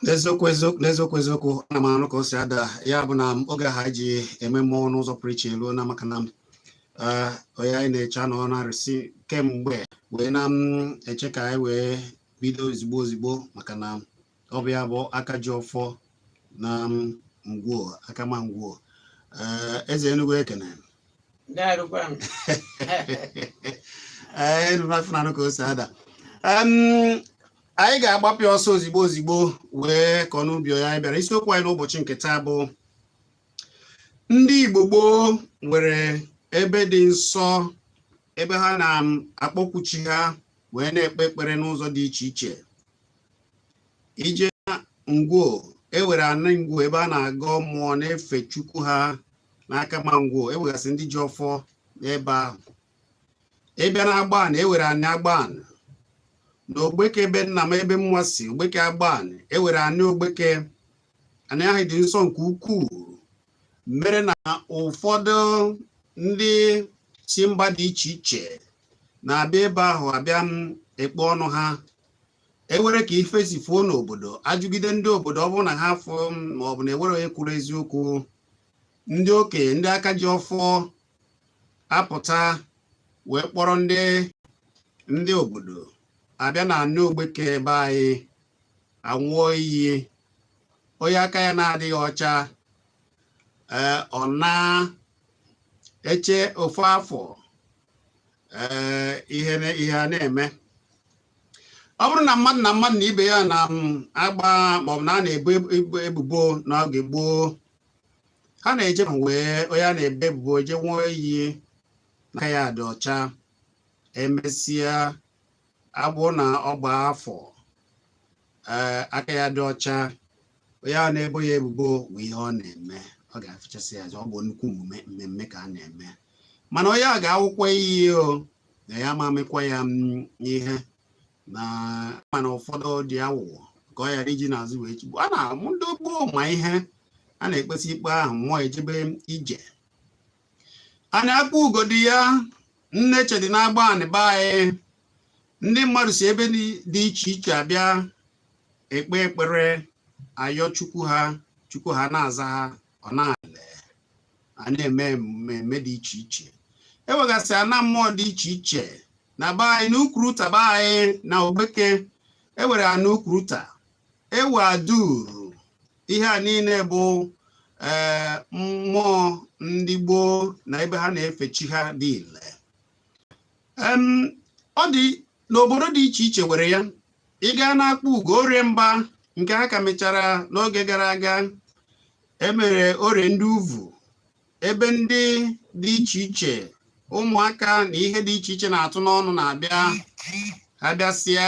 n'eziokwu eziokwu n'eziokwu eziokwu ana m anụ ka o si ada ya bụ na oge ha ji eme mmọnwụ n'ụzọ pụrụ iche eruo na maka na eh, onye anyị na-eche anọ na arụsị kemgbe wee na-eche ka anyị wee bido ozigbo ozigbo maka na ọ bụ ya bụ aka ji ọfọ na Ngwo Akama Ngwo eh, eze Enugu ekene enụnafụnanụ eh, ka o si ada anyị ga-agbapịa ọsọ ozigbo ozigbo wee kọọ n'ubi ya anyị bịara isiokwu anyị n'ụbọchị nke taa bụ ndị Igbo gboo nwere ebe dị nsọ ebe ha na-akpọkwu chi ha wee na-ekpe ekpere n'ụzọ dị iche iche i jee na Ngwo ewere anị Ngwo ebe a na-agọ mmụọ na-efe chukwu ha n'Akama Ngwo ewegasị ndị ji ọfọ n'ebe ahụ ị bịa na Agbanị ewere anị Agbanị na Ogbeke ebe nna m ebe mụwa si Ogbeke Agbanị ewere anị Ogbeke anị ahụ dị nsọ nke ukwuu mere na ụfọdụ ndị si mba dị iche iche na-abịa ebe ahụ abịa ekpe ọnụ ha ewere ka ife si fuo n'obodo ajụgide ndị obodo ọ bụrụ na ha fụ ma ọ bụ na ewere onye kwuru eziokwu ndị okenye ndị aka ji ọfọ apụta wee kpọrọ ndị ndị obodo abịa na anị Ogbeke ebe anyị anwụọ iyi onye aka ya na-adịghị ọcha ee ọ na-eche ofu afọ eh, ihe ihe a na-eme ọ bụrụ na mmadụ na mmadụ na ibe ya na-agba mm, maọbụ na a na-ebo ebubo n'oge gboo ha na-eje wee onye a na-ebo ebubo je nwụọ iyi na aka ya dị ọcha emesịa abụ na ọ gbaa afọ ee eh, aka ya dị ọcha onye na-ebo ya ebubo bụ ihe ọ na-eme ọ ga-afụchasị ya ọ bụ nnukwu mmemme ka a na-eme mana onye a ga-anwụkwa iyi o na ya ma amịkwa ya mm, ihe na mana ụfọdụ dị awụwọ ka ọ ghara iji n'azụ wee chigbu a na-amụ ndị gboo ma ihe a na-ekpesị ikpe ahụ mmụọ ejebe ije anyị akpọ ugodi ya Nneche dị na Agbanị be anyị ndị mmadụ si ebe dị iche iche abịa ekpe ekpere ayọ chukwu ha chukwu ha na-aza ha ọ na-ale a na-eme mmemme dị iche iche ewegasị ana mmụọ dị iche iche na be anyị na Ukwuruta be anyị na Ogbeke ewere anị Ukwuruta ewe aduru ihe a niile bụ ee eh, mmụọ ndị gboo na ebe ha na-efe chi ha dị ile ọ dị n'obodo dị iche iche were ya ị gaa n'akpugo orie mba nke ha ka mechara n'oge gara aga emere orie ndị uvu ebe ndị dị iche iche ụmụaka na ihe dị iche iche na-atụ n'ọnụ na-abịa ha bịasịa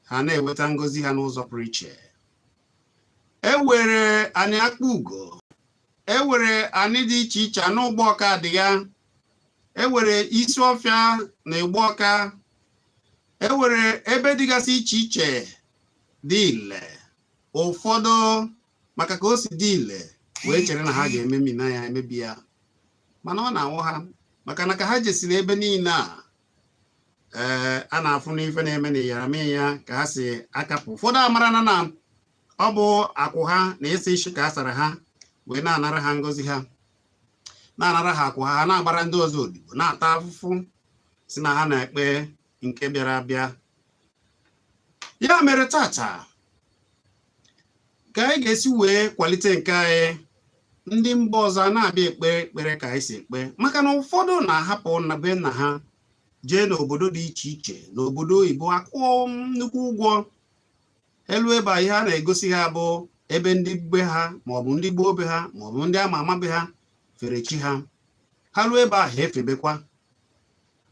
ha na-eweta ngozi ha n'ụzọ pụrụ iche ewere anị akpugo ewere anị dị iche iche anị ụgbọọka dị ya ewere isi ọfịa na ịgba ọka ewere ebe dịgasị iche iche dị ile ụfọdụ maka ka o si dị ile wee chere na ha ga-ememina ya emebi ya mana ọ na-anwụ ha maka na ka ha jesiri ebe niile a ee a na-afụ n'ife na-eme na iyara mee ya ka ha si akapụ ụfọdụ amara na na ọ bụ akwụ ha na ịsa isi ka a sara ha wee na-anara ha ngozi ha na-anara ha akwụ ha ha na-agbara ndị ọzọ odibo na-ata afụfụ si na ha na-ekpe nke bịara abịa ya mere tata ka anyị ga-esi wee kwalite nke anyị ndị mba ọzọ na-abịa ekpe ekpere ka anyị si ekpe maka na ụfọdụ na-ahapụ na be nna ha jee n'obodo dị iche iche n'obodo oyibo akwụọ nnukwu ụgwọ eluo ebe ihe a na-egosi ha bụ ebe ndị be ha maọbụ ndị gboo be ha maọbụ ndị ama ama be ha fere chi ha ha ruo ebe ahụ efebekwa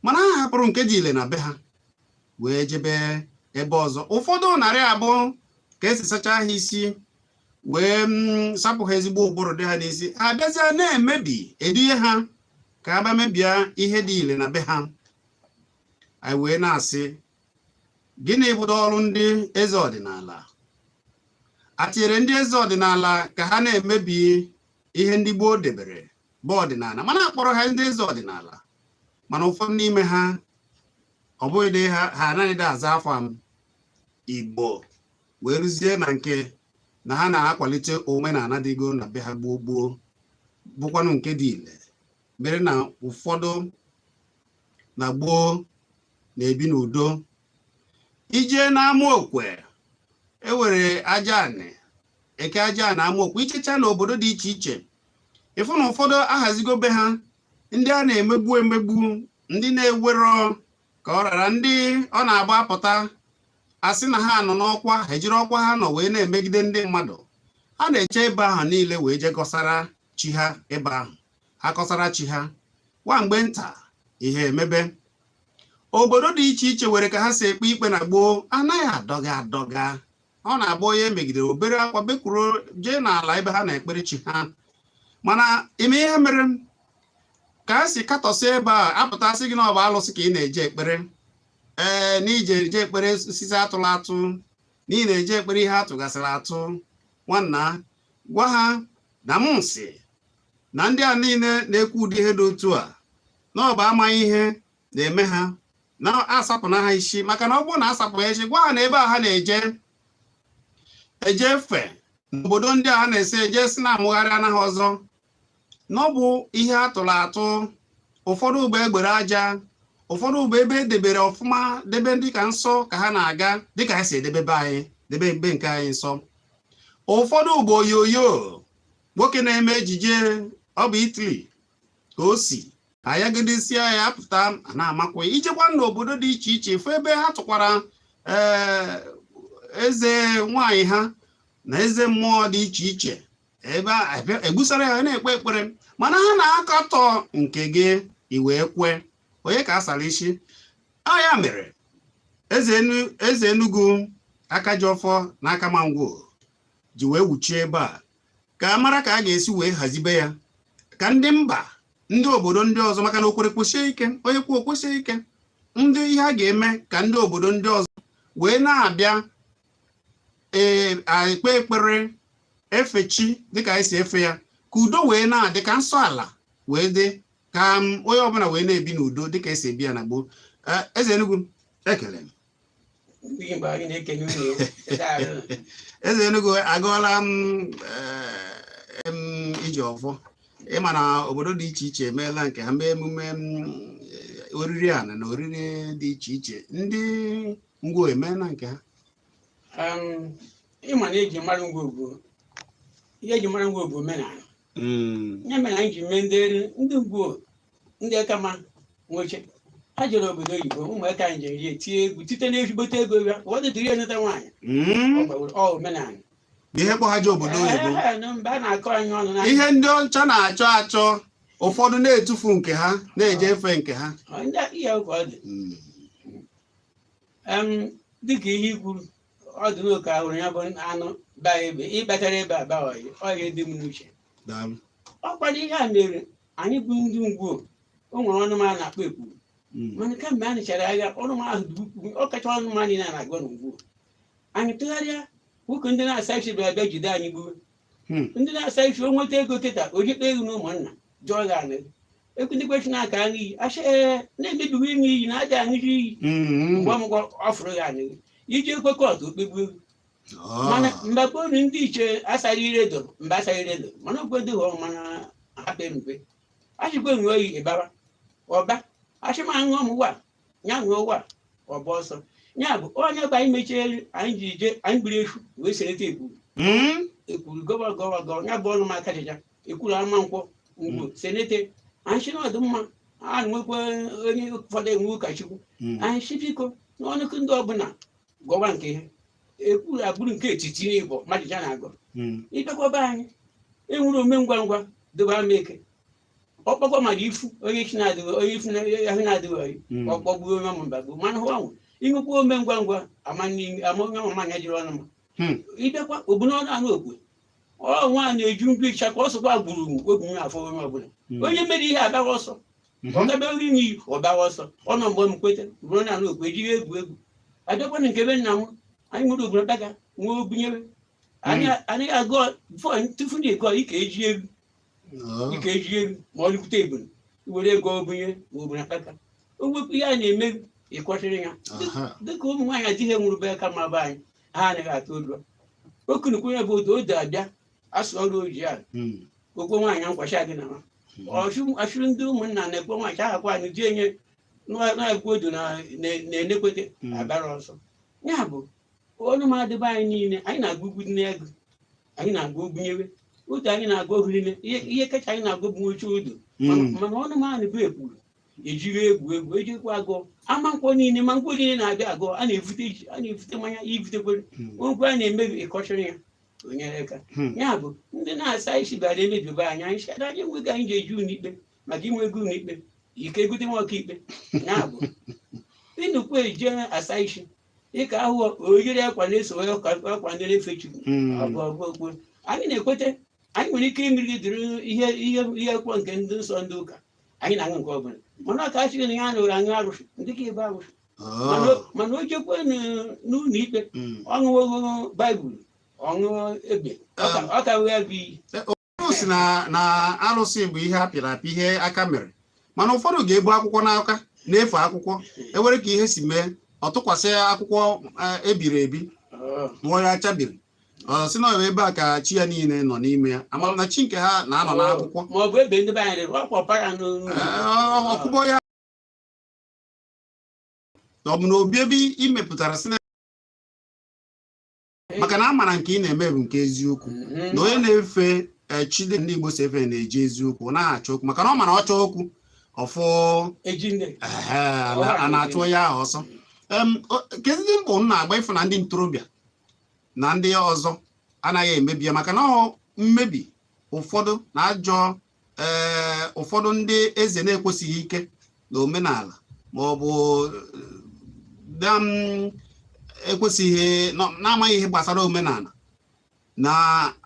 mana ha hapụrụ nke dị ile na be ha wee jebe ebe ọzọ ụfọdụ narị abụ ka esi sachaa ha isi wee mm, sapụ ha ezigbo ụbụrụ dị ha n'isi ha bịazịa na-emebi eduhie ha ka ha bịa mebie ihe dị ile na be ha anyị wee na-asị gịnị bụdo ọrụ ndị eze ọdịnala a tinyere ndị eze ọdịnala ka ha na-emebi ihe ndị gboo debere bụ ọdịnala mana akpọrọ ha ndị eze ọdịnala mana ụfọdụ n'ime ha ọ bụghị dị ha ha anaghị dị aza afa igbo wee rụzie na nke na ha na-akwalite omenala dịgo na be ha gboo gboo bụkwanụ nke dị ile mere na ụfọdụ na gboo na-ebi n'udo i jee n'ama okwe ewere aja anị eke aja anị ama okwe i jechaa na obodo dị iche iche ị fụ na ụfọdụ ahazigo be ha ndị a na-emegbu emegbu ndị na-ewero ka ọ ra ha ndị ọ na-abụ apụta asị na ha nọ n'ọkwa ha ejiri ọkwa ha nọ wee na-emegide ndị mmadụ ha na-eje ebe ahụ niile wee jee kọsara chi ha ebe ahụ ha kọsara chi ha nwa mgbe nta ihe emebe obodo dị iche iche were ka ha si ekpe ikpe na gboo anaghị adọga adọga ọ na-agba onye megidere obere akwa bekwuru jee n'ala ebe ha na-ekpere chi ha mana ime ihe mere ka a si katọsị ebe a pụta sị gị na ọ bụ alụsị ka ị na-eje ekpere ee na ije eje ekpere osisi atụla atụ na ị na-eje ekpere ihe atụgasịrị atụ nwanna gwa ha na m sị na ndị a niile na-ekwu ụdị ihe dị otu a na ọ bụ amaghị ihe na-eme ha na asapụna ha isi maka na ọ bụrụ na asapụ ha isi gwa ha na ebe a ha na-eje eje efe n'obodo ndị a ha na-esi eje sị na amụgharịana ha ọzọ na ọ bụ ihe a tụrụ atụ ụfọdụ bụ egbere aja ụfọdụ bụ ebe edebere ọfụma debe ndị ka nsọ ka ha na-aga dịka ha si edebe be anyị debe ebe nke anyị nsọ ụfọdụ bụ oyoyo nwoke na-eme ejije ọ bụ Italy ka o si ayagidesịa ya apụta na-amakwa i jekwaa n'obodo dị iche iche fụ ebe ha tụkwara eh, eze nwanyị ha na eze mmụọ dị iche iche ebe egbusara ya na-ekpe ekpere mana ha na-akatọ nke gị i wee kwe onye ka asara isi ọ ya mere eze enugu aka ji ọfọ na akama ngwo ji wee wuchie ebe a ka a mara ka a ga-esi wee hazibe ya ka ndị mba ndị obodo ndị ọzọ maka na o kwere kwesie ike onye kwuo kwusie ike ndị ihe a ga-eme ka ndị obodo ndị ọzọ wee na-abịa ee ekpe ekpere efe chi dịka anyị si efe ya ka udo wee na-adị ka nsọ ala wee dị ka onye ọbụla wee na-ebi n'udo dịka esi ebi ya na gboo eze Enugu ekele eze Enugu agụọla m eh, iji ọfọ ị ma na obodo dị iche iche emeela nke ha mee emume eh, oriri ana na oriri dị iche iche ndị ngwo emeela nke ha ị ma na eji mara ngwo bụ ihe eji mara ngwo bụ omenala hmm. ya mere anyị ji mee ndị ngwo ndị akama nwoche ha jere obodo oyibo ụmụaka anyị jere ya tie egwu site n'ezigbote ego ya ụfọdụ jiri ya nụta nwaanyị Mm. ọ gbaworo ọ omenala ihe kpọ ha je obodo oyibo Ee, na mgbe a na-akọ anyị ọnụ na ihe ndị ọcha na-achọ achọ ụfọdụ na-etufu nke ha na-eje efe nke ha Ọ, ndị aka ihe ka ọ dị Mm. Em, dịka ihe i kwuru ọ dị n'oke ahụrụ ya bụ anụ baa ebe ịbatara ebe a baa ọyị ọyị dị m n'uche daalụ ọ kwado ihe a mere anyị bụ ndị ngwo o nwere ọnụ m a na-akpọ ekwu Mm. mana kamgbe a nụchara agha ọnụ m ahụ dị ukwuu ọ kacha ọnụ m anyị na-agwa na ngwo anyị tụgharịa nwoke ndị na-asa isi bịara bịa jide anyị gbuo Hmm. ndị na-asa isi o nweta ego kịta o jikpa ego na ụmụnna jụọ gị anị ekwu ndị kwesị na-aka aṅụ iyi asị ee na-emebigo ịṅụ iyi na aja aṅụzi iyi Mm. mgbe ọmụgwọ ọ fụrụ gị anyị iji ekwe kọtụ okpegbu ego mana mgbe gboo ndị ichie asaghị ire edo mgbe asaghị ire edo mana okwe dị hụrụ mana hapụ emikwe achịkwa enwe oyi ịbara ọba achịma aṅụ ọmụwa ya ṅụọ ụwa ọba ọsọ ya bụ onye bụ anyị mechie elu anyị ji je anyị gburu efu wee sereta ekwuru Mm. ekwuru gọwa gọwa gọwa ya bụ ọnụ m aka jịja ekwuru ama nkwọ ngwo senete anyị si n'ọdụ mma a nwekwa onye ụfọdụ enwe ụkọchukwu Mm. anyị si biko n'ọnụkụ ndị ọbụla gọwa nke ihe ekwu agbụrụ nke etiti n'igbo mmadụ ya na-agọ Mm. ịbịakwa be anyị enwere ome ngwa ngwa dobe ama eke ọkpọkwa mmadụ ifu onye chi na-adịghị onye ifu na- ahụ na-adịghị ọyị Mm. ọkpọgbuo onye ọmụ mbagbu mana hụ anwụ ịṅụkwa ome ngwa ngwa ama n'ihu- ama onye ọmụ manya jiri ọnụ ma Hmm. ịbịakwa ogbuna ọnụ anụ okwe ọ nwa na-eju mgbe ịcha ka ọ sọkwa gburu ogbu afọ onye ọbụla Mm. onye mere ihe abaghị ọsọ ebe nri n'iyi ọ gbawa ọsọ ọ nọ mgbe m kweta ruo na ala okwu ejighị egwu egwu abịakwana nke be nna m anyị nwere obodo daga nwee obunyere anyị agụ tufu na ego ike eji egwu ike eji egwu ma ọ dịkwute ebulu were ego obunye ma obu na kpata o wepụ ihe a na-eme ịkwọchịrị ya dịka ụmụ nwaanyị adịghị enwere be aka ma be anyị ha anaghị atụ ụjọ okunukwu ya bụ odo odo abịa asụ ọrụ oji a Mm. okwe nwaanyị nkwacha gị na nwa ọchụ ndị ụmụnna na-ekwe nwaanyị ahakwa anyị ji enye na-ekwe odo na- na- na-enekwete Mm. abara ọsọ ya bụ ọnụ m adịba anyị niile anyị na-agụ ugwu dị n'ego anyị na-agụ ugwu nyewe otu anyị na-agụ ohu niile ihe ihe kacha anyị na-agụ bụ oche odo mana Mm. mana ọnụ m anị bụ ekwuru ejiri egwu egwu ejikwa agụ ama nkwọ niile ma nkwọ niile na-abịa agụ a na-evute ji a na-evute mmanya ivutekwere Mm. ogwe a na-emebi ịkọchịrị ya onyere aka hmm. ya bụ ndị na-asa isi bịara emebiba anyị anyị sịara anyị enweghị anyị ga-eje ụlọ ikpe maka inwe ego ụlọ ikpe ike gote nwa ọkaikpe ya bụ ịnụkwu eji asa isi dịka ahụ oyiri akwa na-eso akwa ndị na-efe chukwu ọbụọbụokwu hmm. anyị na-ekweta anyị nwere ike imeri dịrị ihe ihe ihe kwọ nke ndị nsọ ndị ụka anyị na-aṅụ nke ọbụla mana ụka achịghị na ya na ụra aṅụ arụsị dịka ebe arụsị mana o- mana o jekwe n- n'ụlọ ikpe ọ ṅụwo baịbụl ọ ṅụọ ebe ọ ka- ọ ka wee bụ iyi ọ sị na na arụsị bụ ihe a pịrị apị ihe aka mere mana ụfọdụ ga-ebu akwụkwọ n'aka na-efe akwụkwọ ewere ka ihe si mee ọ tụkwasị akwụkwọ eh, ebiri ebi Ọ, mụọ ya achabiri ọ sị na ọ bụ ebe a ka chi ya niile nọ n'ime ya ama m na chi nke ha na-anọ n'akwụkwọ ma ọ bụ ebe ndị be anyị rịrị ọkwa para n'olu Eh, ọ- ọkụbọ ya na ọ bụ na obi ebe ị mepụtara sinema maka na a mara nke ị na-eme bụ nke eziokwu mm-hmm. na onye na-efe eh, chi etu ndị Igbo si efe na-eji eziokwu ọ naghị achọ okwu maka na ọ mara ọ chọọ okwu ọ fụ a na-achụ onye ahụ ọsọ keduzi mbọ unu na-agba ịfụ na ndị ntorobịa na ndị ọzọ anaghị emebi ya maka na ọ mmebi ụfọdụ na ajọ ee ụfọdụ ndị eze na-ekwesighị ike na omenala ma ọ bụ ndị na-ekwesighị nọ- na-amaghị ihe gbasara omenala na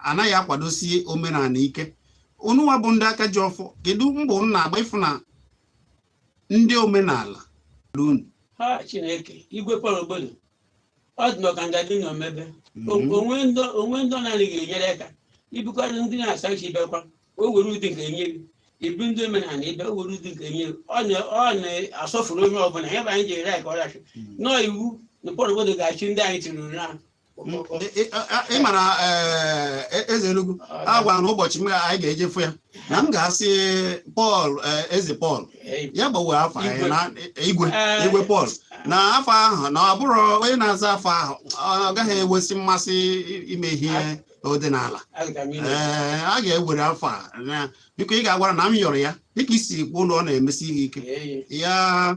anaghị akwadosi omenala ike unu nwa bụ ndị aka ji ọfọ kedu mbọ unu na-agba ịfụ na ndị omenala lunu ha chineke igwe kpọrọ obodo ọ dị maka nga gị n'omebe Mhm. o nwe ndị o nwe ndị ọ na-anaghị enyere aka ị bụkwara ndị na-asa isi bịakwa o were ụdị nke enye gị ị bụ ndị omenala ị bịa o were ụdị nke enye gị ọ na- ọ na-asọfụrụ onye ọbụla ya bụ anyị ji ere ka ọ rachi nọọ iwu na pọrọ obodo ga-achị ndị anyị tiruru na ị mara eze Enugu a gwara na ụbọchị anyị ga-eje fụ ya na m ga-asị pọl eze pọl ya gbanwee afa anyị na igwe igwe pọl na afa ahụ na ọ bụrụ onye na-aza afa ahụ ọ gaghị enwesi mmasị ime ihe ọdịnala ee a ga-ewere afa a na biko ị ga-agwara na m yọrọ ya dịka i si kwuo na ọ na-emesi ihe ike ya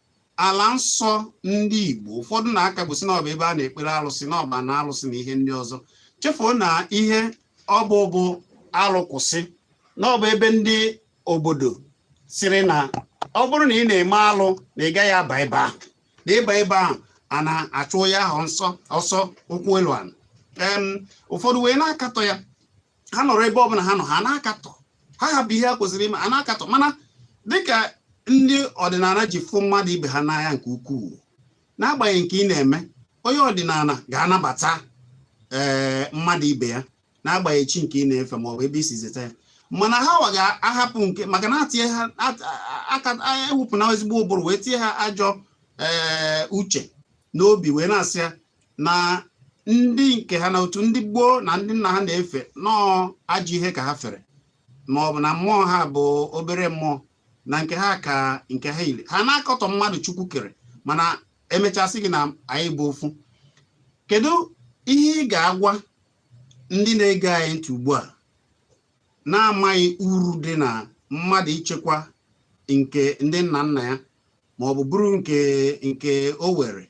ala nsọ ndị Igbo ụfọdụ na-akagbu sị na ọ bụ ebe a na-ekpere alụsị na ọ bụ na alụsị na ihe ndị ọzọ chefuo na ihe ọ bụ bụ alụ kwụsị na ọ bụ ebe ndị obodo sịrị na ọ bụrụ na ị na-eme alụ na ị gaghị aba ebe ahụ na ị baa ebe ahụ a na-achụ onye ahụ nsọ ọsọ ụkwụ elu ala ụfọdụ wee na-akatọ ya ha nọrọ ebe ọbụla ha nọ ha na-akatọ ha hapụ ihe ha kwesịrị ime a na-akatọ mana dịka ndị ọdịnala ji fụ mmadụ ibe ha n'anya nke ukwuu n'agbanyeghị nke ị na-eme onye ọdịnala ga-anabata ee eh, mmadụ ibe ya n'agbanyeghị chi nke ị na-efe maọbụ ebe i si zeta ya mana ha wa ga-ahapụ nke maka na etinye ha aka ewepụ na ezigbo ụbụrụ wee tinye ha ajọ ee eh, uche n'obi wee na-asị ya na ndị nke ha na otu ndị gboo na ndị nna ha na-efe na ọ ajọ ihe ka ha fere ma ọ bụ na mmụọ ha bụ obere mmụọ na nke ha ka nke ha niile ha na-akọtọ mmadụ chukwu kere mana e mechaa sị gị na anyị bụ ofu kedu ihe ị ga-agwa ndị na-ege anyị ntị ugbu a na-amaghị uru dị na mmadụ ichekwa nke ndị nna nna ya ma ọ bụ bụrụ nke nke o nwere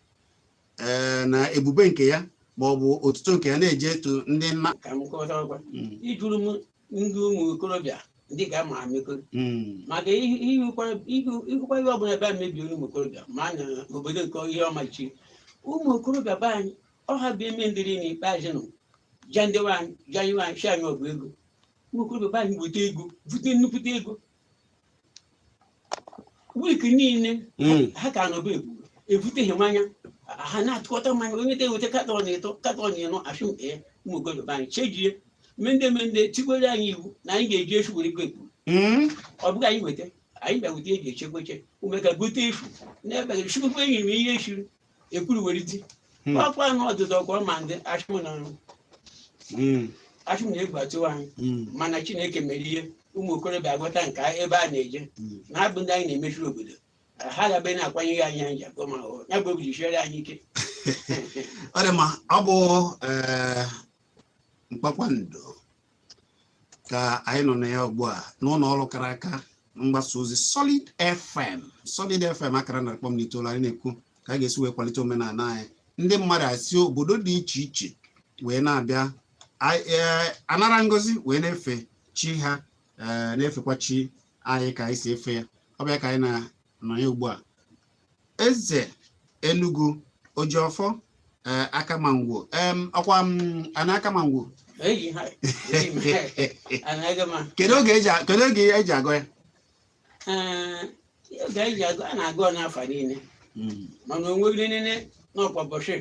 ee na ebube nke ya ma ọ bụ otuto nke ya na-eje etu ndị nna ka m kọta ọkwa Mm, ijuru m ndị ụmụ okorobịa ndị ka ama amịko mm, maka ihụ- ihụkwa ihụ- ihụkwa ihe ọbụla ebe a mebiri ụmụ okorobịa ma na obodo nke ihe ọmachi ụmụ okorobịa be anyị ọha bụ eme ndịrị n'ikpeazụ nụ ja ndewe anyị ja iwe anyị shi anyị ọgụ ego ụmụ okorobịa be anyị bute ego bute nnukwute ego wik niile Mm. ha ka nọba ebu ebuteghị mmanya ha na-atụkọta mmanya onye ta eweta katọn ịtọ katọn ịnọ achụm ee ụmụ okorobịa be anyị chejie mende mende tikwere anyị iwu na anyị ga-eji efu were go ekpuru Mm. ọ bụghị anyị weta anyị bịa weta eji echekweche ume ka gote efu na-ebeghị chukwu enyi m ihe echiri ekwuru were ti Hmm. ọkwa na ọdụdụ ọkwa ma ndị achụmụ na nrụ Mm, achụmụ na-egwu atụwa anyị mm, mana Chineke mere ihe ụmụ okorobịa agwọta nke a- ebe a na-eje mm. na-abụ ndị anyị na-emechiri obodo ha gabe na-akwanyeghị anyị anyị ji agụ ma ọ ya bụ obi ji siere anyị ike ọ dị mma ọ bụ eh, mkpakpando ka anyị nọ na ya ugbu a n'ụlọ ọrụ kara aka mgbasa ozi Solid FM Solid FM akara narị kpọm na itoolu anyị na-ekwu ka a ga-esi wee kwalite omenala anyị ndị mmadụ esi obodo dị iche iche wee na-abịa e, anara ngozi wee na-efe chi ha e, na-efekwa chi anyị ka anyị si efe ya ọ bụ ya ka anyị nọ na ya ugbu a eze Enugu ojiọfọ ee Akama Ngwo em ọkwa m ana Akama Ngwo eyi ha eyi m ha anaghị m kedu oge eji a- kedu oge eji agọ ya ee oge anyị ji agọ a na-agọ ọ n'afọ niile Mm, mana onweghị niile n'ọkwa bọchị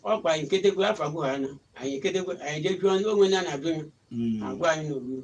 ọkwa anyị nketegwe afọ agụ ha na anyị nketegwe anyị jee jụọ ndị onwe na na-ajụ ya mm. agwa anyị n'ogburu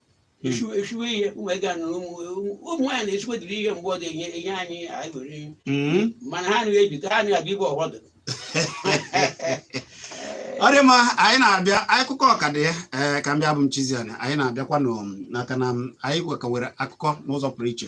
Esi- esiwe ihe ụmụ ego anọ ụmụ ụmụ nwaanyị na-esiwe dịrị ihe mgbe ọ dị enye enye anyị anyị were ihe. Mm. mana ha anaghị ebi ka ha anaghị abịa ibe ọghọdụ ọ dị mma anyị na-abịa akụkọ ọka dị ya ee ka m bịa bụ m Chiziana anyị na-abịakwanụ n'aka na m- anyị wee kọwere akụkọ n'ụzọ pụrụ iche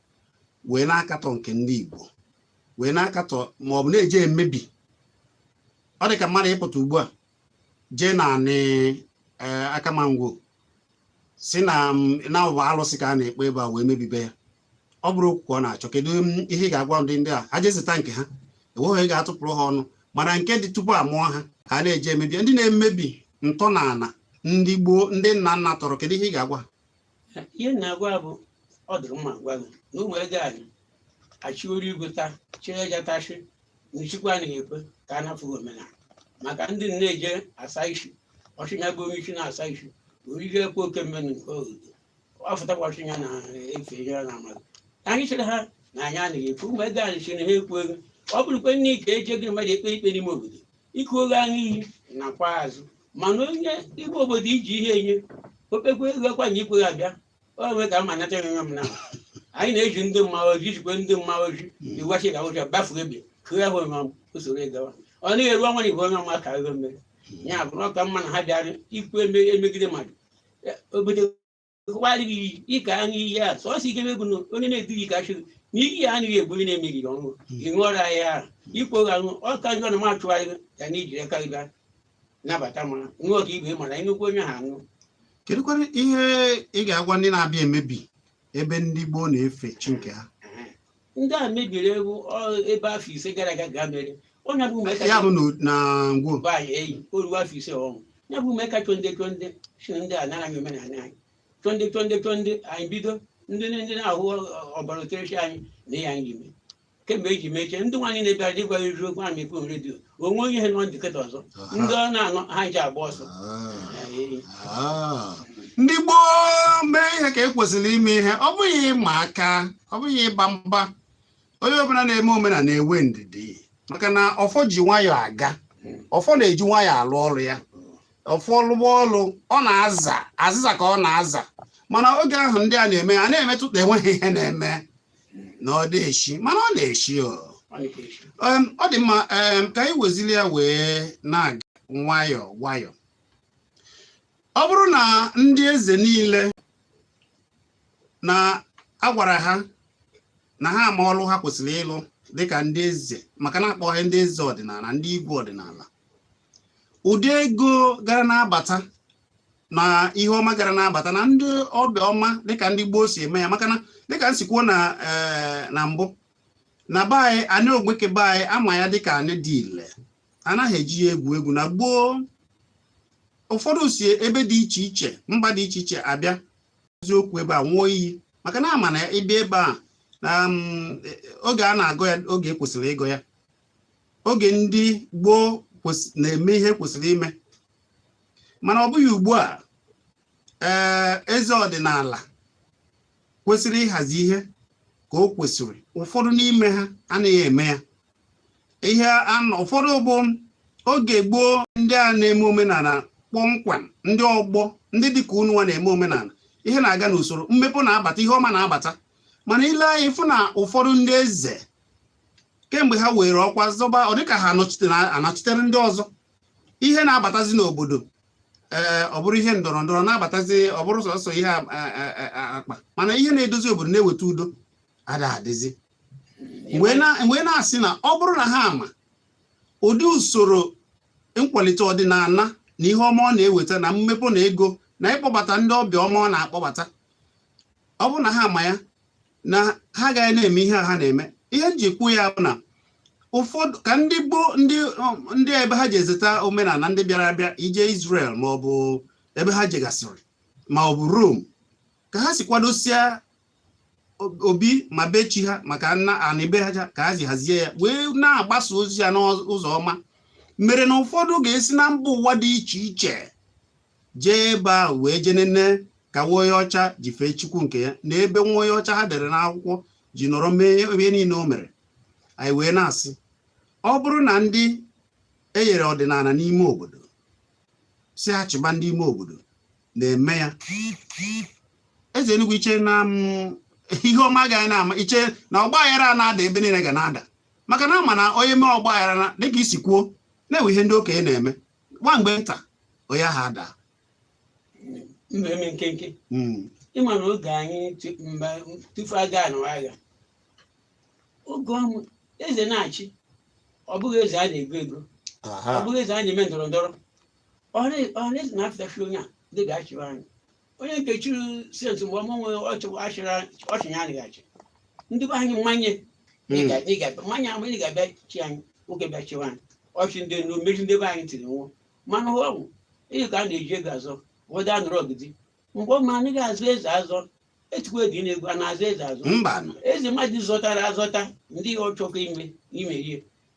wee na-akatọ nke ndị Igbo wee na-akatọ ma ọ bụ na-eje emebi ọ dị ka mmadụ ịpụta ugbu a jee na Anị e, Akama Ngwo si na ọ bụ alụsị ka a na-ekpe ebe a wee mebibe ya ọ bụrụ okwu ka ọ na-achọ kedu ihe ị ga-agwa ndị ndị a ha jee zụta nke ha enweghị ga-atụpụrụ ha ọnụ mana nke dị tupu a mụọ ha ka a na-eje emebi ndị na-emebi ntọala ndị gboo ndị nna nna tọrọ kedu ihe ị ga-agwa ihe m na-agwa ya bụ ọ dịrị mma gwa gị na ụmụ ego anyị achịworo igwe taa chịrị eja tachị na ichikwa anaghị ekwe ka a nafụ gị omenala maka ndị na-eje asa isi ọchịnya bụ onye isi na-asa isi orige ekwe oke mmenụ nke obodo ọ fụtakwa ọchịnya na efe ihe ọ na-amaghị anyị chere ha na anyị anaghị ekwe ụmụ ego anyị si na ha ekwu ego ọ bụrụkwa nne ka eje gị mmadụ ekpe ikpe n'ime obodo ịkụ oge aṅụ iyi nakwa azụ mana onye igwe obodo iji ihe enye okpekwe ego akwa na ikwe abịa o nwee ka amanata enwe m na anyị na-eji ndị mmanwụ ojii jikwe ndị mmanwụ ojii iwachi ka ụjọ bafu ebi kụọ ahụ ma usoro ịgawa ọ naghị eru ọnwa na igwe onye ọma ka ego mmeri ya bụ na ọ ka mma na ha bịara ikwu eme- emegide mmadụ obodo rụwarị gị iyi ịka aṅụ iyi a sọsọ ike bụ na onye na-edughị ka chụrụ na iyi ya anaghị egbu onye na-emeghị ya ọṅụ ị ṅụọrọ ya ya ahụ i kweghị aṅụ ọ ka njọ na m achụgharị gị ya na ijiri aka gị bịa nabata ma ṅụọ ka ibe mara ịnụkwu onye ha aṅụ kedụkwanụ ihe ị ga-agwa ndị na-abịa emebi ebe ndị gboo na-efe chi nke ha ndị a mebiri iwu ọ- ebe afọ ise gara aga ga mere onye bụ ume ya bụ na- na ngwo bụ anyị eyi o ruo afọ ise ọnwụ ya bụ ume ka chonde chonde si na ndị a nara anyị omenala anyị chonde chonde chonde anyị bido ndị ndị na-ahụ ọ- ọbara oterechi anyị na ya anyị ime kemgbe eji mechie ndị nwaanyị na-ebịara dị gwa eziokwu okwu anyị ekwu redio onwe onye ihe nọ ndịkọta ọzọ ndị ọ na-anọ ha ji agba ọsọ Ah. Anyị eyi. Ah. ndị gboo mee ihe ka e kwesịrị ime ihe ọ bụghị ịma aka ọ bụghị ịba mba onye ọbụla na-eme omenala na-enwe ndidi maka na ọfọ ji nwayọọ aga ọfọ na-eji nwayọọ alụ ọrụ ya ọfọ lụba ọrụ ọ na-aza azịza ka ọ na-aza mana oge ahụ ndị a na-eme a na-emetụta enweghị ihe na-eme na ọ da-eshi mana ọ na-eshi o. Em, ọ dị mma em, ka anyị wezili ya wee na-aga nwayọọ nwayọọ ọ bụrụ na ndị eze niile na agwara ha na ha ama ọlụ ha kwesịrị ịlụ dịka ndị eze maka na akpọ ha ndị eze ọdịnala ndị igwe ọdịnala ụdị ego gara na-abata na ihe ọma gara na-abata na ndị ọbịa ọma dịka ndị gboo si eme ya maka na dịka m si kwuo na eh, mbụ na be anyị anị ogbeke be anyị ama ya dịka anị dị ile anaghị eji ya egwu egwu na gboo ụfọdụ si ebe dị iche iche mba dị iche iche abịa eziokwu ebe a nwụọ iyi maka na a ma na ị bịa ebe a na um, e, e, oge a na-agọ ya oge e kwesịrị ịgọ ya oge ndị gboo na-eme ihe e kwesịrị ime mana ọ bụghị ugbu a ee eze ọdịnala kwesịrị ịhazi ihe ka o kwesịrị ụfọdụ n'ime ha anaghị eme ya ihe anọ ụfọdụ bụ oge gboo ndị a na-eme omenala kpọmkwem ndị ọgbọ ndị dịka unu nwa na-eme omenala ihe na-aga n'usoro mmepe na-abata ihe ọma na-abata mana ị lee anya ị fụ na ụfọdụ ndị eze kemgbe ha were ọkwa zọba ọ dịka ha anọchitere ndị ọzọ ihe na-abatazi n'obodo ee eh, ọ bụrụ ihe ndọrọ ndọrọ na-abatazi ọ bụrụ sọsọ ihe eh, eh, akpa mana ihe na-edozi obodo na-eweta udo ada adịzi wee na-asị na ọ bụrụ na ha ama ụdị usoro nkwalite ọdịnala na ihe ọma ọ na-eweta na mmepe na ego na ịkpọbata ndị ọbịa ọma ọ na-akpọbata ọ bụrụ na ha ama ya na ha agaghị na-eme ihe a ha na-eme ihe m ji kwuo ya bụ na ụfọdụ ka ndị gboo ndị um, ndị ebe ha ji ezeta omenala ndị bịara abịa ị jee Israel ma ọ bụ ebe ha jegasịrị ma ọ bụ Rome ka ha si kwadosie obi ma be chi ha maka nna anị be ha ka ha ji hazie ya wee na-agbasa ozi ya n'ụzọ ọma mere na ụfọdụ ga-esi na mba ụwa dị iche iche jee ebe ahụ wee jee nene ka nwa onye ọcha ji fee chukwu nke ya na ebe nwa onye ọcha ha dere n'akwụkwọ ji nọrọ mee ihe niile o mere anyị wee na-asị ọ bụrụ na ndị e nyere ọdịnala n'ime obodo sị ha chịba ndị ime obodo na-eme ya eze Enugu i che na mm, ihe ọma agaghị na-ama i che na ọgba aghara na-ada ebe niile ga na-ada maka na a ma na onye mee ọgba aghara na dịka i si kwuo na e nwee ihe ndị okenye na-eme nwa mgbe nta onye ahụ adaa ndụ eme nkenke Mm, ị ma na oge anyị tu- mba tupu a ga-anụwa agha oge ọ bụ eze na-achị ọ bụghị eze a na-ego ego ọ aha bụghị eze a na-eme ndọrọ ndọrọ ọhaneze na-afụta sị onye a ndị ga-achịwa anyị onye nke chịrị sent mgbe ọma nwere ọchịnya anaghị achị ndị be anyị mmanye mmanye ahụ ị ga-abịa chị anyị nwoke bịa chịwa anyị ọchị ndị nụ mmeri ndị be anyị tiri nwụọ mana ọ bụ ihe ka a na-eji ego azọ ụfọdụ anụrụ ọgụdị mgbe ọma anyị ga-azọ eze azọ etukwa edi na-egwu a na-azọ eze azọ eze mmadụ zọtara azọta ndị ọchọkọ ime ime ihe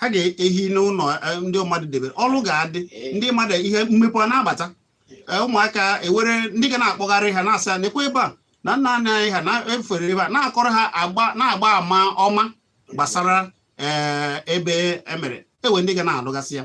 ha ga-ehi n'ụlọ e, ndị mmadụ debere ọrụ ga-adị ndị mmadụ ihe mmepe a na-abata e, ụmụaka e nwere ndị ga na-akpọgharị ha na-asị ha nekwe ebe a na nna nna anyị ha na-efere ebe a na-akọrọ ha agba na-agba ama ọma gbasara e, ebe e mere e nwee ndị ga na-alụgasị ya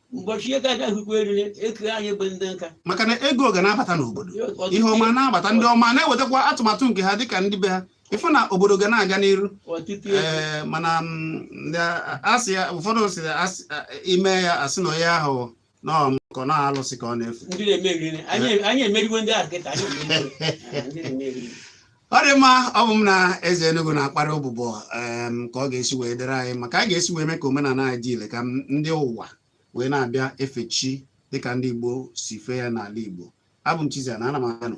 ụbọchị ego agaghịkwa eriri eke anyị bụ ndị nka maka na ego ga na-abata n'obodo ihe ọma na-abata ndị ọma na-ewetakwa atụmatụ nke ha dịka ndị be ha ị fụ na obodo ga na-aga n'iru eh, mana mm, a sị ya ụfọdụ si ime ya a sị na onye ahụ nọọ na-alụsị ka ọ na-efu anyị emeriwo ndị ahụ kịta ọ dị mma ọ bụ m na eze Enugu na-akparị ụbụbọ ka ọ ga-esi wee dịrị anyị mma ka a ga-esi wee mee ka omenala anyị dị ile ka ndị ụwa wee na-abịa efe chi dịka ndị Igbo si fee ya n'ala Igbo abụ m Chizzy na ana m anụ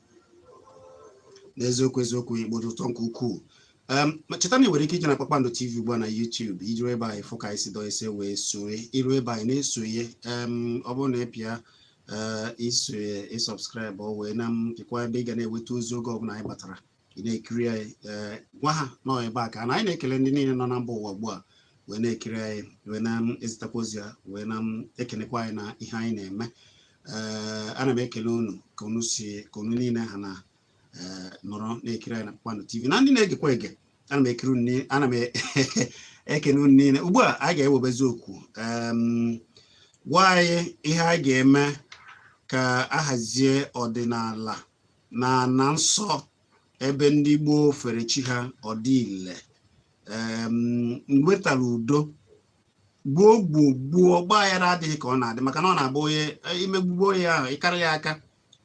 n'eziokwu eziokwu Igbo dị ụtọ nke ukwuu cheta na ị nwere ike ije na Kpakpando TV ugbu a na YouTube iru ebe anyị fụ ka anyị si dọ ise wee soye iru ebe anyị na-esoye ọ bụrụ na ị pịa eh, isoye ịsọbskraịbụ wee na-apịkwa ebe ị ga na-enweta ozi oge ọbụla anyị batara ị na-ekiri anyị eh, gwa ha nọ ebe a ka na anyị na-ekele ndị niile nọ na mba ụwa ugbu a wee na-ekiri anyị wee na-ezitakwa ozi ya wee na-ekenekwa anyị na ihe anyị na-eme ee ana m ekele unu ka unu niile ha na ee nọrọ na-ekiri anyị na Kpakpando TV na ndị na-egekwa ege ana m ekene unu niile ugbu a anyị ga-ewebezi okwu em, gwa anyị ihe anyị ga-eme ka a hazie ọdịnala na ana nsọ ebe ndị gboo fere chi ha ọ dị ile em, nwetara udo gboo gboo gboo ọgba aghara adịghị ka ọ na-adị maka na ọ na-abụ onye e, imegbugbo onye ahụ ịkara ya aka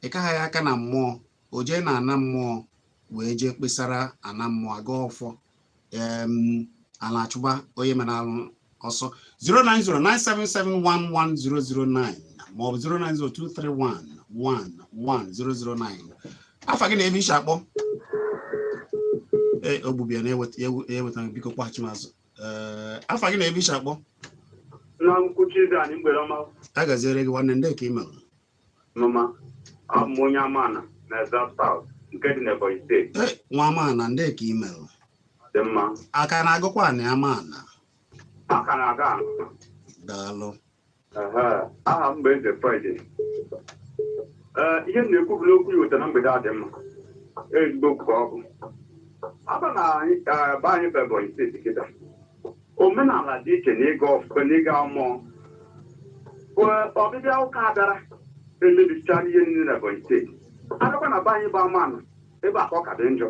ịkaha ya aka na mmụọ o jee na ana mmụọ wee jee kpesara ana mmụọ aga ọfọ ana achụba onye mere alụ ọsọ 09097711009 maọbụ 09023111009 afa gị na ebe i si akpọ ee ogbubia na-eweta biko kpọghachi m azụ Ee, afa gị na ebe i shi akpọ na nkwuchi dị anyị mgbede ọma ya gaziere gị nwanne ndee ka ị mere mma mma abụ m onye Amana na Ezza South nke dị n'Ebonyi steeti Ee, nwa Amana ndee ka ị mere dị mma aka na-agụkwa anị amaala aka na-aga daalụ aha m bụ Eze Friday ihe m na-ekwu bụ n'okwu ya weta na mgbede a dị mma ezigbo okwu ka ọ bụ abịa na be anyị bụ Ebonyi steeti kịta omenala dị iche na ịgọ ee na ịgọ mmụọ ọbịbịa ụka abịara emebichara ihe niile na Ebonyi steeti abịakwa na be anyị bụ Amana ebe a ka ọ ka dị njọ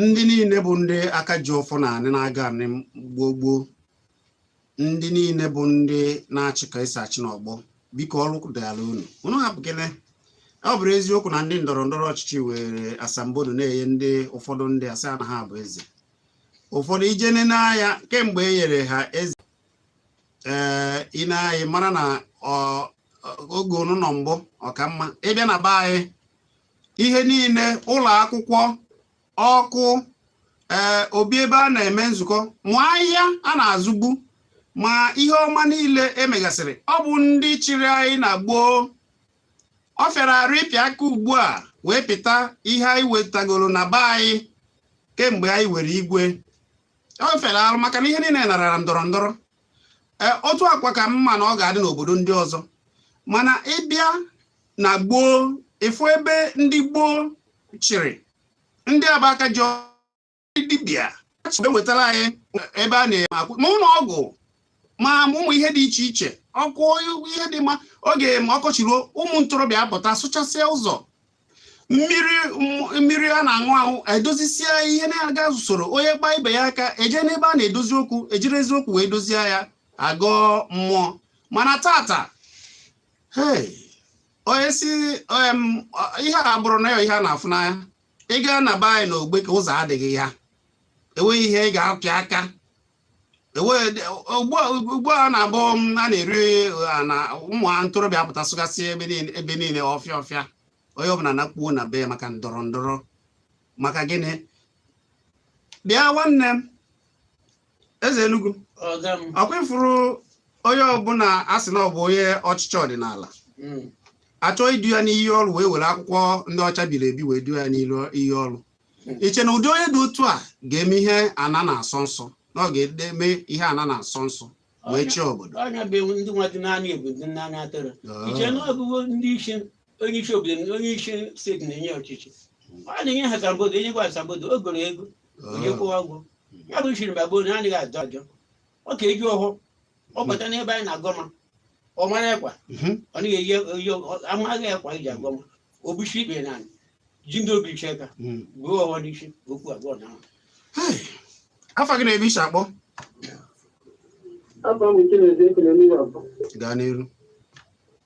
ndị niile bụ ndị aka ji ọfọ na anị na-agọ anị gboo gboo ndị niile bụ ndị na-achị ka esi achị n'ọgbọ biko ọrụ dịala unu unu hapụkene ọ bụrụ eziokwu na ndị ndọrọ ndọrọ ọchịchị were asambodo na-enye ndị ụfọdụ ndị asị na ha bụ eze ụfọdụ i jee nene anya kemgbe e nyere ha eze ee eh, i nee anya ị mara na oge unu nọ mbụ ọ ka mma ịbịa na be anyị ihe niile ụlọ akwụkwọ ọkụ ee eh, obi ebe a na-eme nzukọ ma ahịa a na-azụ ugbu a ma ihe ọma niile e megasịrị ọ bụ ndị chịrị anyị na gboo ọ fịara arụ ịpịa aka ugbu a wee pịta ihe anyị wetagoro na be anyị kemgbe anyị nwere igwe ọ fịara arụ maka na ihe niile narara ndọrọ ndọrọ eh, otu a kwa ka m ma na ọ ga-adị n'obodo ndị ọzọ mana ịbịa na gboo ị fụ ebe ndị gboo chịrị ndị aba aka ji dibịa achọbe wetara anyị ebe a na-eme akwụ ma ụlọ ọgwụ ma ụmụ ihe dị iche iche ọkụ ihe dị mma oge ma ọkọchị ruo ụmụ ntorobịa apụta sụchasịa ụzọ mmiri mmiri a na-aṅụ aṅụ e dozisie ihe na-aga n'usoro onye kpaa ibe ya aka e jee n'ebe a na-edozi okwu e jiri eziokwu wee dozie ya a gọọ mmụọ mana taata onye si ihe a bụrụ na ya ihe a na-afụ n'anya ị gaa na be anyị na ogbe ka ụzọ adịghị ya enweghị ihe ị ga-apị aka ugbu a na-abụ a na-eri na ụmụ ntorobịa apụta sụgasị ebe niile ọfịa ọfịa onye ọbụla na-akpuo na be ya maka ndọrọ ndọrọ maka gịnị bịa nwanne m eze Enugu ọga m ọ kwa ị fụrụ onye ọbụla a sị na ọ bụ onye ọchịchị ọdịnala Mm. a chọọ idu ya n'iyi ọrụ wee were akwụkwọ ndị ọcha biri ebi wee du ya n'iyi ọrụ i che na ụdị onye dị otu a ga-eme ihe ana na-asọ nsọ na ọ ga-edebe ihe ana na-asọ nsọ wee chịa obodo ọnya bụ ewu ndị nwa dị n'anya ewu dị n'anya atụrụ i che na ọ bụgo ndị isi onye isi obodo na- onye isi steeti na-enye ọchịchị ọ na-enye ha asambodo e nyekwa asambodo o goro ego onye kwụwa ụgwọ ya bụ usoro mgbe gboo na anaghị ajọ ajọ ọ ka e ji ọhụụ ọ bata n'ebe anyị na-agọma ọ mara ekwa Mhm. ọ naghị eyi eyi ọ- amaghị ekwa iji agọma o buchi ikpe na anyị ji ndị obi iche ka Mm. gbuo ọhụụ n'isi okwu abụọ na ahụ afa gị na ebe i si akpọ Afa m Chinedu Ekwulemiwa bụ gaa n'iru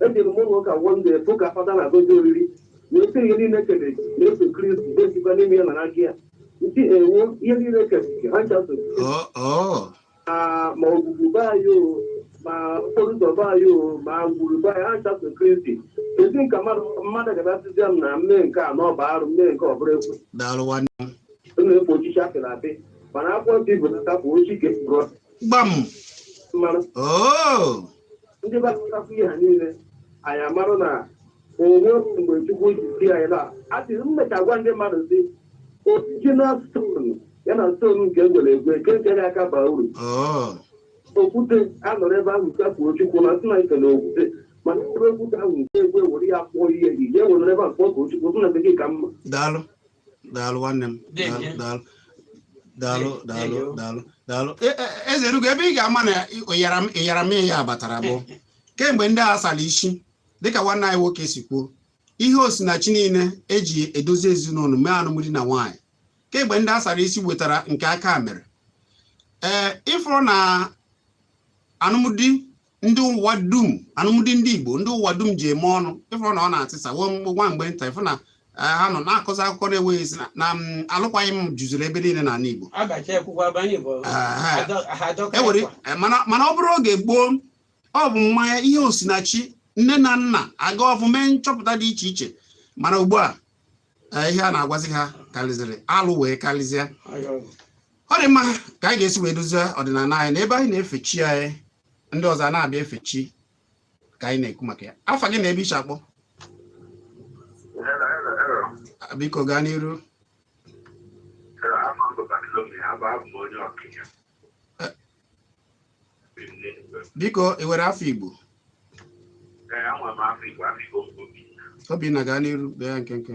Ejere m ụlọ ụka one day fụ ka fada na-agọzi oriri na otu ihe niile e kere na-eso Kristi na-esikwa n'ime ya na n'aka ya nti ewo ihe niile e kere ha ncha so Oh, oh. ma ma ogwugwu be anyị o ma okporo ụzọ be anyị o ma ngwuru be anyị ha ncha so Kristi ezi nka mmadụ mmadụ ga-abịa sịzi m na m mee nke a na ọ bụ arụ m mee nke ọ bụrụ ekwe Daalụ nwanne m. ọ na-ekpo ochichi apịrị apị mana akwụkwọ nsọ Igbo na-ata bụ ochi ka ekpuru Gbam. mmanụ Oh. ndị gbasapụ ihe ha niile anyị amarọ na o nwe mgbe chukwu ji sị anyị na atị mmecha gwa ndị mmadụ sị original stone ya na stone nke egwere egwe nke nke ya aka baa uru Oh. okwute anọrọ ebe ahụ safuo chukwu na sị na nke na okwute mana ebe okwute ahụ nke egwe were ya kpụọ ihe gị ya were ebe a kpọọ ka chukwu sị na nke gị ka mma daalụ daalụ nwanne m daalụ daalụ daalụ daalụ daalụ e, e, eze Enugu ebe ị ga-ama na ịyara m ya batara bụ kemgbe ndị a sara isi dịka nwanne anyị nwoke si kwuo ihe osinachi niile eji edozi ezinụlọ mee anụmdi na nwaanyị kemgbe ndị a sara isi wetara nke aka mere ee ịfụrọ na anụmdi ndị ụwa dum anụmdi ndị Igbo ndị ụwa dum ji eme ọnụ ịfụrọ na ọ na-atịsa nwa mgbe nta ịfụ na e, ha nọ na-akụzi akụkọ na-enweghị isi na alụkwaghị m juziri ebe niile n'ala Igbo e mana ọ bụrụ oge gboo ọ bụ mmanya ihe osinachi nne na nna aga ọfụ mee nchọpụta dị iche iche mana ugbu a e, ihe a na-agwazi ha karịzịrị alụ wee karịzịa ọ dị mma ka anyị ga-esi wee dozie ọdịnala anyị na ebe anyị na-efe chi anyị ndị ọzọ a na-abịa efe chi ka anyị na-ekwu maka ya afa gị na ebe i si akpọ biko gaa n'iru biko ị were afọ igbo obinna gaa n'iru bie ya nkenke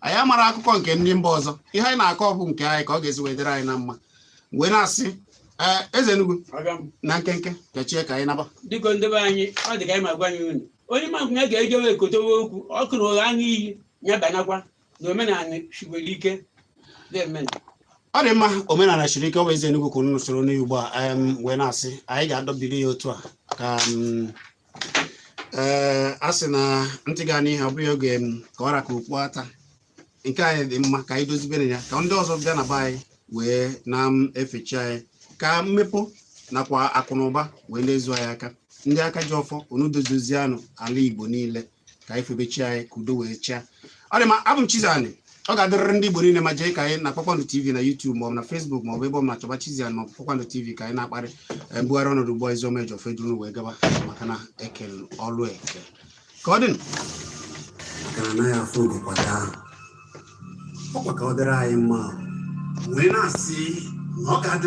anyị amara akụkọ nke ndị mba ọzọ ihe anyị na-akọ bụ nke anyị ka ọ ga-esi wee dịrị anyị na mma wee na-asị ee eze Enugu na nkenke kechie ka anyị naba dịka ndị be anyị ọ dị ka anyị ma gwa anyị unu onye ma nkwụnye ga-ejewe ekotewe okwu o kwuru ụgha aṅụ iyi ya banakwa na omenala siwere ike deeme ọ dị mma omenala siri ike ọ bụ eze Enugu ka unu soro n'ugbu a em, wee na-asị anyị ga-adọbiri ya otu a ka mm, ee a sị na ntị ga-anụ ihe ọ bụghị ọ ga-eme ka ọ ra ka okpu ata nke anyị dị mma ka anyị dozibenụ ya ka ndị ọzọ bịa na be anyị wee na-efe chi anyị ka mmepe nakwa akụ na ụba wee na-ezu anyị aka ndị aka ji ọfọ unu dozizianụ ala igbo niile ka anyị febe chi anyị ka udo wee chịa ọ dị mma abụ m Chizzy Ani ọ ga-adịrịrị ndị Igbo niile mma jekwu anyị na Kpakpando TV na YouTube maọbụ na Facebook maọbụ ebe ọbụna chọba Chizzy Ani maọbụ Kpakpando TV ka anyị na-akparị eh, mbugharị ọnọdụ ugbu a Ozioma Ejiofor eduru wee gaba maka na ekelu ọlụ eke ka ọ dị maka na anaghị afụ oge kwado ahụ ọkwa ka ọ dịrị anyị mma wee na-asị na ọ ga-adịrị